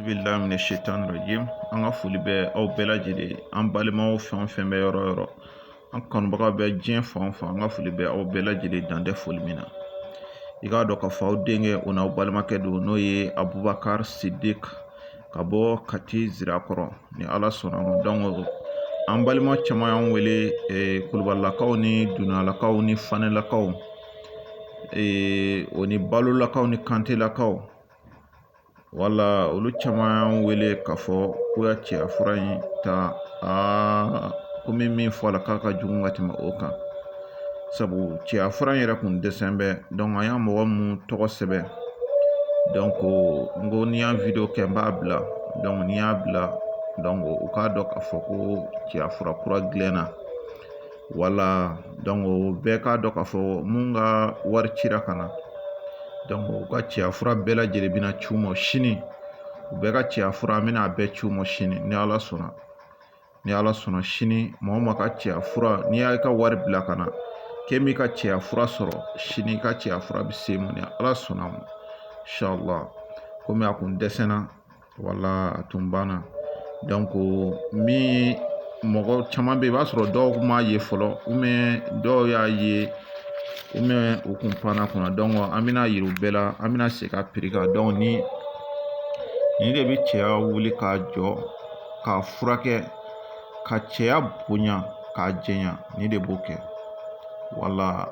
bilahi mina shetan rajim an ka foli bɛ aw bɛɛ lajɛlen an balimaw fɛn o fɛn bɛ yɔrɔ o yɔrɔ an kanubaga bɛ diɲɛ fan o fan an ka foli bɛ aw bɛɛ lajɛlen dan tɛ foli min na i k'a dɔn k'a fɔ aw denkɛ o n'aw balimakɛ don n'o ye abubakari sidik ka bɔ kati zirakɔrɔ ni ala sɔnna ma donc an balima caman y'an wele eh, kulubalakaw ni dumuyalakaw ni fanelakaw eh, o ni balolakaw ni kantelakaw wala olu caman y'an wele k'a fɔ k'u y'a cɛya fura in ta aa komi min fɔla k'a ka jugu ka tɛmɛ o kan sabu cɛya fura in yɛrɛ kun dɛsɛn bɛ donc an y'a mɔgɔ mun tɔgɔ sɛbɛn donc n ko ni n y'a video kɛ n b'a bila donc ni n y'a bila donc u k'a dɔn k'a fɔ ko cɛya fura kura gilanna wala donc bɛɛ k'a dɔn k'a fɔ mun ka wari cira ka na donc u ka cɛya fura bɛɛ lajɛlen bɛna ci u ma sini u bɛɛ ka cɛya fura an bɛna a bɛɛ ci u ma sini ni ala sɔnna ni ala sɔnna sini maa o maa ka cɛya fura n'i y'i ka wari bila ka na k'e m'i ka cɛya fura sɔrɔ sini i ka cɛya fura bɛ se i ma ni ala sɔnna ma inshala komi a kun dɛsɛnna wala a tun banna donc min mɔgɔ caman bɛ yen i b'a sɔrɔ dɔw kun m'a ye fɔlɔ dɔw y'a ye u kun panna kunna donc an bɛna a yira u bɛɛ la an bɛna segin a prix kan donc ni nin de bɛ cɛya wuli k'a jɔ k'a furakɛ ka cɛya bonya k'a janya nin de b'o kɛ wala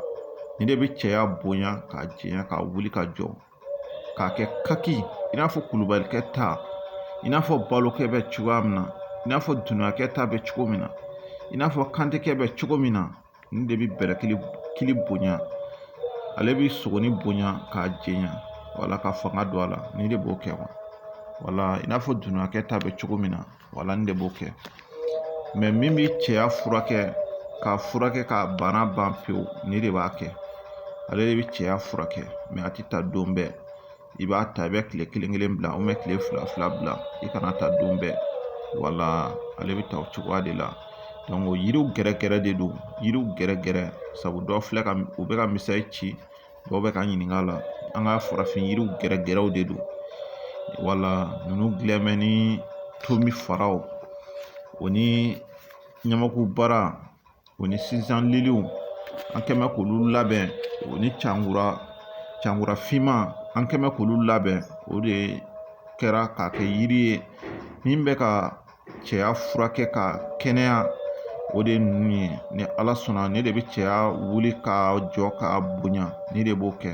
nin de bɛ cɛya bonya k'a janya k'a wuli k'a jɔ k'a kɛ kaki i n'a fɔ kulubalikɛ ta i n'a fɔ balokɛ bɛ cogoya min na i n'a fɔ dumuyakɛ ta bɛ cogo min na i n'a fɔ kantekɛ bɛ cogo min na nin de bɛ bɛlɛkili bonya ale bɛ sogonin bonya k'a janya wala ka fanga don a la nin de b'o kɛ wala i n'a fɔ dumuyakɛ ta bɛ cogo min na wala nin de b'o kɛ mais min bɛ cɛya furakɛ k'a furakɛ k'a bana ban pewu nin de b'a kɛ ale de bɛ cɛya furakɛ mais a tɛ ta don bɛɛ i b'a ta i bɛ kile kelen kelen bila kile fila fila bila i kana ta don bɛɛ wala ale bɛ ta o cogoya de la donc yiriw gɛrɛgɛrɛ de don yiriw gɛrɛgɛrɛ sabu dɔw filɛ ka u bɛ ka message ci dɔw bɛ k'an ɲininka a la an ka farafin yiriw gɛrɛgɛrɛw de don wala ninnu gilan mɛ ni tomi faraw o ni ɲamakubara o ni sinjan liliw an kɛ mɛ k'olu labɛn o ni cankura finman an kɛ mɛ k'olu labɛn o de kɛra k'a kɛ yiri ye min bɛ ka cɛya furakɛ ka kɛnɛya o de ye ninnu ye ni ala sɔnna nin de bɛ cɛya wuli k'a jɔ k'a bonya nin de b'o kɛ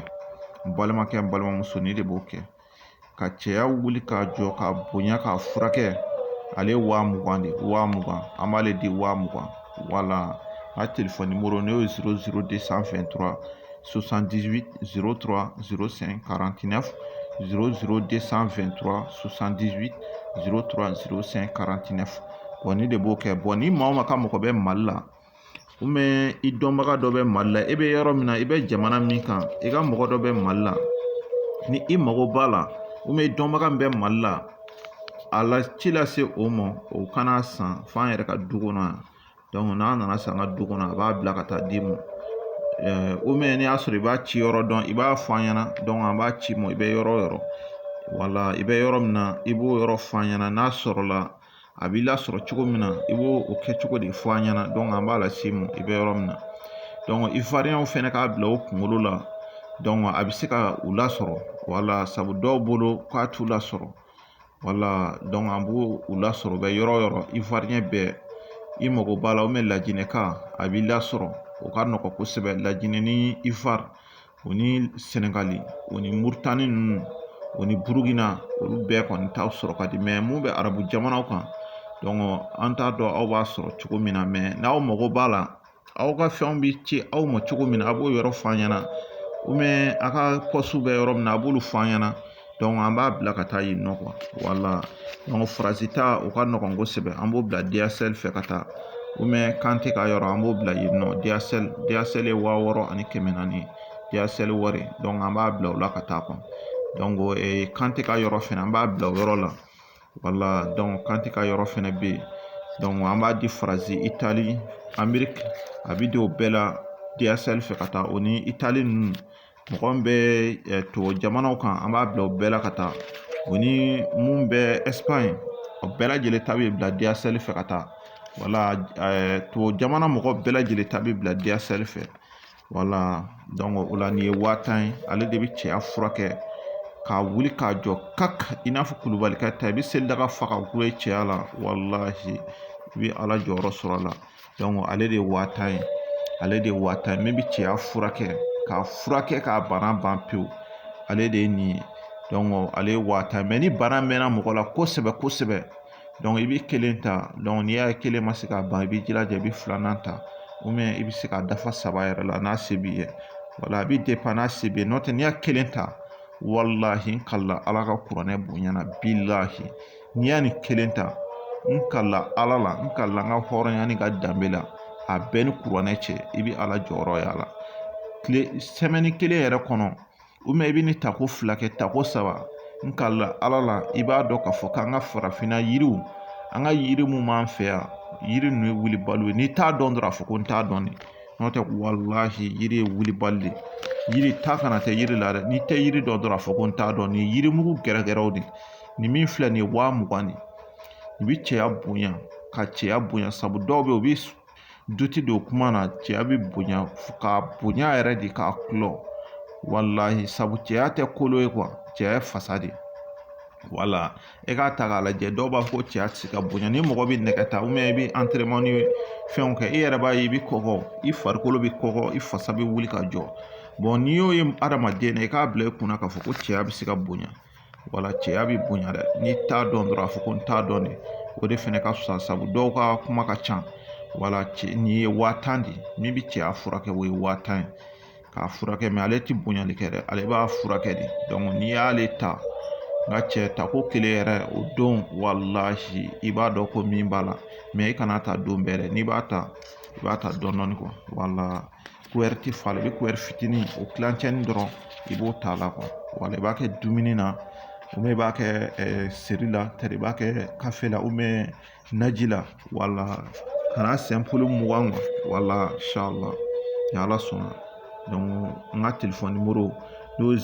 n balimakɛ n balimamuso nin de b'o kɛ ka cɛya wuli k'a jɔ k'a bonya k'a furakɛ ale ye wa mugan de ye wa mugan an b'ale di wa mugan wala a telefɔni nimɔrɔ n'o ye zéro zéro deux cent vingt-trois soixante-dix-huit zéro trois zéro cinq quarante-neuf zéro zéro deux cent vingt-trois soixante-dix-huit zéro trois zéro cinq quarante-neuf bɔn nin de b'o kɛ bɔn ni maa o maa ka mɔgɔ bɛ mali la ubiyɛn i dɔnbaga dɔ bɛ mali la e bɛ yɔrɔ min na i bɛ jamana min kan i ka mɔgɔ dɔ bɛ mali la ni i mago b'a la ubiyɛn i dɔnbaga min bɛ mali la a la ci lase o ma o ka n'a san fo an yɛrɛ ka du kɔnɔ yan n'a nan'a san an ka du kɔnɔ a b'a bila ka taa d'i ma ubiyɛn n'i y'a sɔrɔ i b'a ci yɔrɔ dɔn i b'a fɔ an ɲɛna an b'a ci i ma i bɛ yɔrɔ o yɔrɔ wala i bɛ yɔrɔ min na i b'o yɔrɔ fɔ an ɲɛna n'a sɔrɔla a b'i lasɔrɔ cogo min na i b'o kɛcogo de fɔ an ɲɛna an b'a las'i ma i bɛ yɔrɔ min na ivoiriyɛnw fɛnɛ k'a bila u kunkolo la a bɛ se ka u lasɔrɔ wala sabu dɔw bolo k'a t'u lasɔrɔ wala an b'u lasɔrɔ u bɛ yɔrɔ o yɔrɔ ivoiriyɛn bɛɛ i mago b'a la lajinɛka a b'i lasɔrɔ o ka nɔgɔn kosɛbɛ lajinɛ ni ivoire o ni sɛnɛgali o ni murutani ninnu o ni burukina olu bɛɛ kɔni ta sɔrɔ ka di mɛ mun bɛ arabu jamanaw kan an t'a dɔn aw b'a sɔrɔ cogo min na mɛ n'aw mago b'a la aw ka fɛnw bɛ ci aw ma cogo min na a b'o yɔrɔ f'an ɲɛna ubiyɛn a ka pɔsiw bɛ yɔrɔ min na a b'olu f'an ɲɛna an b'a bila ka taa yen nɔ wala faransi ta o ka nɔgɔn kosɛbɛ an b'o bila DHL fɛ ka taa kante ka yɔrɔ an b'o bila yen nɔ DHL DHL wa wɔɔrɔ ani kɛmɛ naani DHL wari an b'a bila o la ka taa kante ka yɔrɔ fɛnɛ an b'a bila o yɔrɔ la wala donc kante ka yɔrɔ fɛnɛ bɛ yen donc an b'a di faransi itali amɛriki a bɛ di o bɛɛ la DHL fɛ ka taa o ni itali ninnu mɔgɔ min bɛ tubabu jamanaw kan an b'a bila o bɛɛ la ka taa o ni mun bɛ ɛsipaɲi o bɛɛ lajɛlen ta bɛ bila DHL fɛ ka taa wala tubabu jamana mɔgɔ bɛɛ lajɛlen ta bɛ bila DHL fɛ o la nin ye waa tan ye ale de bɛ cɛya furakɛ k'a wuli k'a jɔ ka i n'a fɔ kulubalikɛ ta i bɛ selidaga fa k'a dulon i cɛya la walahi i bɛ ala jɔyɔrɔ sɔrɔ a la ale de ye waa tan ye ale de ye waa tan ye min bɛ cɛya furakɛ k'a furakɛ k'a bana ban pewu ale de ye nin ye ale ye waa tan mɛ ni bana mɛnna mɔgɔ la kosɛbɛ kosɛbɛ i bɛ kelen ta n'i y'a ye kelen ma se k'a ban i b'i jilaja i bɛ filanan ta ou bien i bɛ se k'a dafa saba yɛrɛ la n'a se b'i ye wala a bɛ dépend n'a se b'i ye n'o tɛ n'i y'a kelen ta walahi n kalila ala ka kuranɛ bonya na bilahi n'i y'a ni kelen ta n kalla ala la n kalla n ka hɔrɔnya ni ka danbe la a bɛɛ ni kuranɛ cɛ i bɛ ala jɔyɔrɔ y'a la tile semaine kelen yɛrɛ kɔnɔ i bɛ nin tako fila kɛ tako saba n kalla ala la i b'a dɔn k'a fɔ k'an ka farafinna yiriw an ka yiri mun b'an fɛ yan yiri ninnu ye wulibaliw ye n'i t'a dɔn dɔrɔn a fɔ ko n t'a dɔn de n'o tɛ walahi yiri ye wulibali de yiri ta nkalon tɛ yiri la dɛ n'i tɛ yiri dɔn dɔrɔn a fɔ ko n t'a dɔn nin yirimugu gɛrɛgɛrɛw de nin min filɛ nin ye waa mugan de i bi cɛya bonya ka cɛya bonya sabu dɔw bɛ yen u bi duti don kuma na cɛya bɛ bonya k'a bonya yɛrɛ de k'a kulɔ walahi sabu cɛya tɛ kolo ye quoi cɛya ye fasa de ye wala e k'a ta k'a lajɛ dɔw b'a fɔ ko cɛya tɛ se ka bonya ni mɔgɔ bɛ nɛgɛ ta ou bien i bɛ entraînement ni fɛnw kɛ i yɛrɛ b'a ye i bɛ kɔgɔ i farikolo bɛ kɔgɔ i fasa bɛ wuli ka jɔ bon n'i y'o ye adamaden na i k'a bila i kunna k'a fɔ ko cɛya bɛ se ka bonya wala cɛya bɛ bonya dɛ n'i t'a dɔn dɔrɔn a fɔ ko n t'a dɔn dɛ o de fɛnɛ ka fisa sabu dɔw ka kuma ka ca wala nin ye waa tan de min bɛ cɛya furakɛ o ye waa tan ye k'a furakɛ mais ale tɛ bonyali kɛ dɛ ale b'a furakɛ de n'i y'ale ta n ka cɛ tako kelen yɛrɛ o don walahi i b'a dɔn ko min b'a la mais i kan'a ta don bɛɛ dɛ n'i b'a ta i b'a ta dɔɔni dɔɔni kuɛri ti falen i bɛ kuɛri fitinin o tilancɛnin dɔrɔn i b'o ta a la quoi wala i b'a kɛ dumuni na ou bien i b'a kɛ seri la tari i b'a kɛ kafe la ou bien naji la wala ka n'a simple mugan quoi wala inshallah ni ala sɔnna donc n ka téléphone numéro n'o ye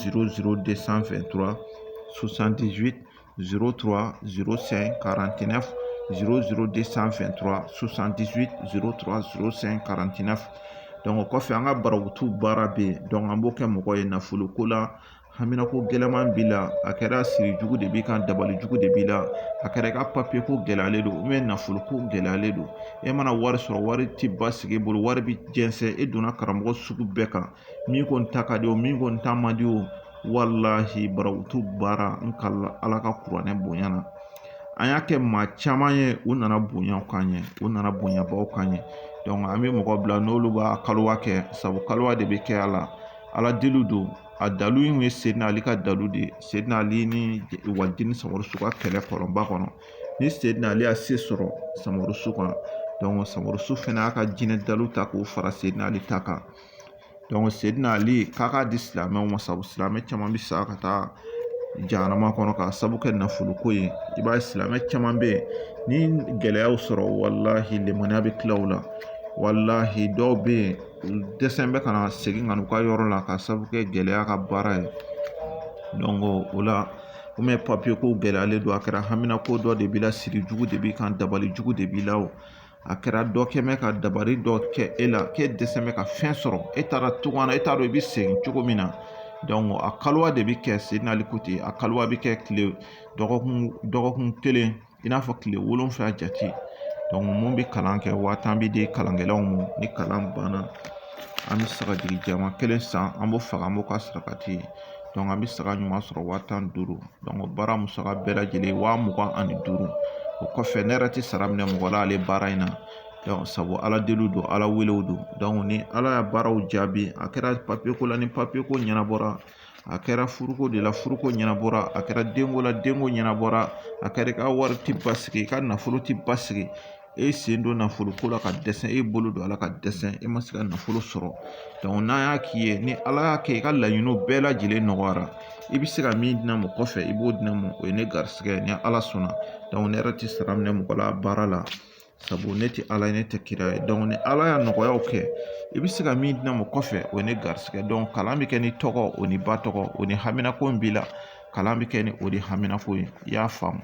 o kɔfɛ an ka barawutu baara bɛ yen donc an b'o kɛ mɔgɔ ye nafolo ko la haminanko gɛlɛman b'i la a kɛra siri jugu de b'i kan dabali jugu de b'i la a kɛra i ka papiye ko gɛlɛyalen don ou bien nafolo ko gɛlɛyalen don e mana wari sɔrɔ wari ti basigi e bolo wari bi jɛnsɛn e donna karamɔgɔ sugu bɛɛ kan min kɔni ta ka di o min kɔni ta man di o walahi barawutu baara n kalla ala ka kuranɛ bonya na an y'a kɛ maa caman ye u nana bonya k'an ye u nana bonyabaw k'an ye an bɛ mɔgɔ bila n'olu b'a kaliwa kɛ sabu kaliwa de bɛ kɛ a la ala deliw don a dalu in ye sedina ali ka dalu de ye sedina ali ni waliden samurusu ka kɛlɛ kɔlɔnba kɔnɔ ni sedina ali y'a se sɔrɔ samurusu kan samurusu fɛnɛ y'a ka jinɛ daluw ta k'o fara sedina ali ta kan sedina ali k'a ka di silamɛw ma sabu silamɛ caman bɛ sa ka taa jahanama kɔnɔ k'a sabu kɛ nafolo ko ye i b'a ye silamɛ caman bɛ yen ni gɛlɛyaw sɔrɔ walahi limaniya bɛ tila u la walahi dɔw bɛ yen u dɛsɛlen bɛ ka na segin ka na u ka yɔrɔ la k'a sabu kɛ gɛlɛya ka baara ye donc o la ou bien papiye ko gɛlɛyalen don a kɛra hamina ko dɔ de b'i la siri jugu de b'i kan dabali jugu de b'i la o a kɛra dɔ kɛlen bɛ ka dabali dɔ kɛ e la k'e dɛsɛlen bɛ ka fɛn sɔrɔ e taara cogoya e t'a dɔn i bɛ segin cogo min na donc a kaliwa de bɛ kɛ sedina ali ko ten a kaliwa bɛ kɛ kile dɔgɔkun kelen i n'a fɔ kile wolonfila jate donc mun bɛ kalan kɛ waa tan bɛ di kalankɛlaw ma ni kalan banna an bɛ sagajigi jɛman kelen san an b'o faga an b'o kɛ sarakati ye donc an bɛ saga ɲuman sɔrɔ waa tan ni duuru baara musaka bɛɛ lajɛlen wa mugan ani duuru o kɔfɛ ne yɛrɛ tɛ sara minɛ mɔgɔ la ale baara in na donc sabu ala deliw don ala welew don donc ni ala y'a baaraw jaabi a kɛra papiye ko la ni papiye ko ɲɛnabɔra a kɛra furuko de la furuko ɲɛnabɔra a kɛra denko la denko ɲɛnabɔra a kɛra i ka wari ti basigi i ka nafolo ti basigi e sen don nafolo ko la ka dɛsɛ e bolo don a la ka dɛsɛ e ma se ka nafolo sɔrɔ donc n'a y'a k'i ye ni ala y'a kɛ i ka laɲiniw bɛɛ lajɛlen nɔgɔyara i bɛ se ka min di ne ma kɔfɛ i b'o di ne ma o ye ne garisigɛ ye ni ala sɔnna donc ne yɛrɛ tɛ sara minɛ mɔgɔ la baara la sabu ne tɛ ala ye ne tɛ kira ye donc ni ala y'a nɔgɔyaw kɛ i bɛ se ka min di ne ma kɔfɛ o ye ne garisigɛ donc kalan bɛ kɛ n'i tɔgɔ o n'i ba tɔgɔ o ni haminanko in b'i la kalan bɛ kɛ ni o de haminanko ye i y'a faamu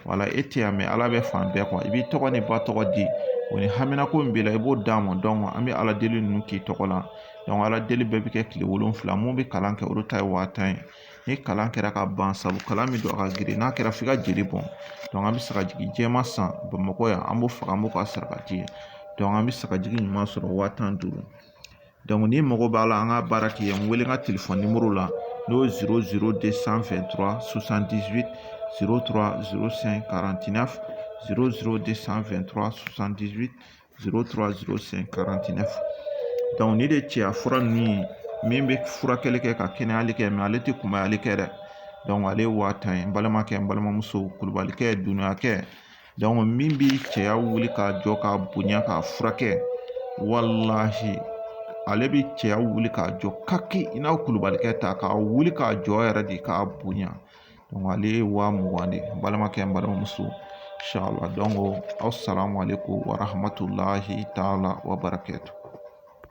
wala e tɛ yan mɛ ala bɛ fan bɛɛ i b'i tɔgɔ n'i ba tɔgɔ di o ni haminanko min b'i la i b'o d'an ma donc an bɛ ala deli ninnu k'i tɔgɔ la donc ala deli bɛɛ bɛ kɛ kile wolonfila mun bɛ kalan kɛ olu ta ye waa tan ye ni kalan kɛra ka ban sabu kalan min don a ka girin n'a kɛra f'i ka jeli bɔn donc an bɛ sagajigi jɛman san bamakɔ yan an b'o faga an b'o kɛ sarakati ye donc an bɛ sagajigi ɲuman sɔrɔ waa tan ni duuru n'i mago b'a la an ka baara k'i ye n wele n ka telefɔni nimɔrɔ la n'o ye 00223 78 03 05 49 00223 78 03 05 49 donc nin de cɛya fura ninnu ye min bɛ furakɛli kɛ ka kɛnɛyali kɛ mais ale tɛ kunbayali kɛ dɛ donc ale ye wa tan ye n balimakɛ n balimamuso kulubalikɛ duniyakɛ min bi cɛya wuli k'a jɔ k'a bonya k'a furakɛ walahi ale bi cɛya wuli k'a jɔ ka kɛ i n'a kulubalikɛ ta k'a wuli k'a jɔ yɛrɛ de k'a bonya donc ale ye wa mugan de ye n balimakɛ n balimamuso inshallah donc asalamu alekum warahamatulahi taala wa barakatu